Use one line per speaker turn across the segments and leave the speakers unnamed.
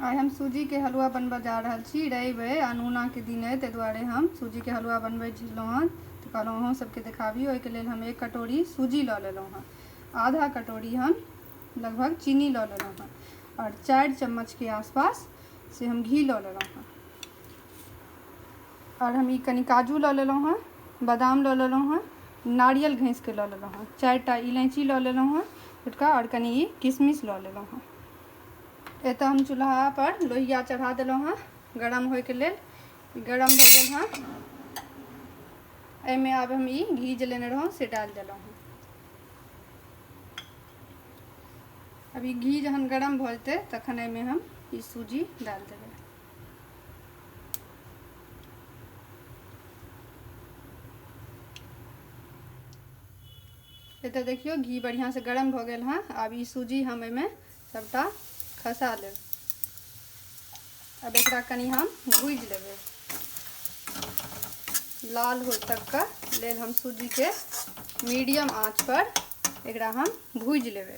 आइ हम सूजीके हलुआ बनबऽ जा रहल छी रवि अइ अनूनाके दिन अइ ताहि दुआरे हम सूजीके हलुआ बनबै छलहुँ हँ तऽ कहलहुँ अहूँ सबके देखाबी ओहिके लेल हम एक कटोरी सूजी लऽ लेलहुँ हँ आधा कटोरी हम लगभग चीनी लऽ लेलहुँ हँ आओर चारि चम्मचके आसपास से हम घी लऽ लेलहुँ हँ आओर हम ई कनि काजू लऽ लेलहुँ हँ बादाम लऽ लेलहुँ हँ नारियल घँसिके लऽ लेलहुँ हँ चारिटा इलायची लऽ लेलहुँ हँ छोटका आओर कनि ई किशमिश लऽ लेलहुँ हँ एतऽ हम चूल्हा पर लोहिया चढ़ा दिलहुँ हँ गरम होइके लेल गरम भऽ गेल हँ एहिमे आब हम ई घी जे लेने रहौँ से डालि देलहुँ हँ अब ई घी जहन गरम भऽ जेतै तखन एहिमे हम ई सूजी डालि देबै एतऽ देखियौ घी बढ़िआँसँ गरम भऽ गेल हँ आब ई सूजी हम एहिमे सभटा खसा लेब अब एकरा कनि हम भूज लेबै लाल हो तक का लेल हम सूजी के मीडियम आंच पर एकरा हम भूज लेबै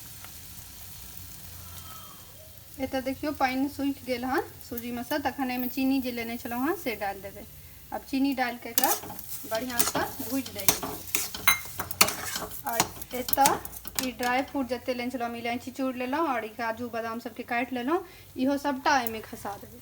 एतऽ देखियौ पानि सूखि गेल हन सूजीमे सँ तखन एहिमे चीनी जे लेने छलहुँ हँ से डालि देबै आब चीनी डालिके एकरा बढ़िआँसँ भूजि दै छी आओर एतऽ ई ड्राई फ्रूट जतेक लेने छलहुँ हम इलायची चूड़ लेलहुँ आओर ई काजू बादाम सभके काटि लेलहुँ इहो सभटा एहिमे खसा देबै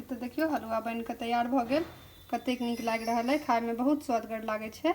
तऽ देखियौ हलुआ बनि कऽ तैयार भऽ गेल कतेक नीक लागि रहल अइ खायमे बहुत स्वदगर लागै छै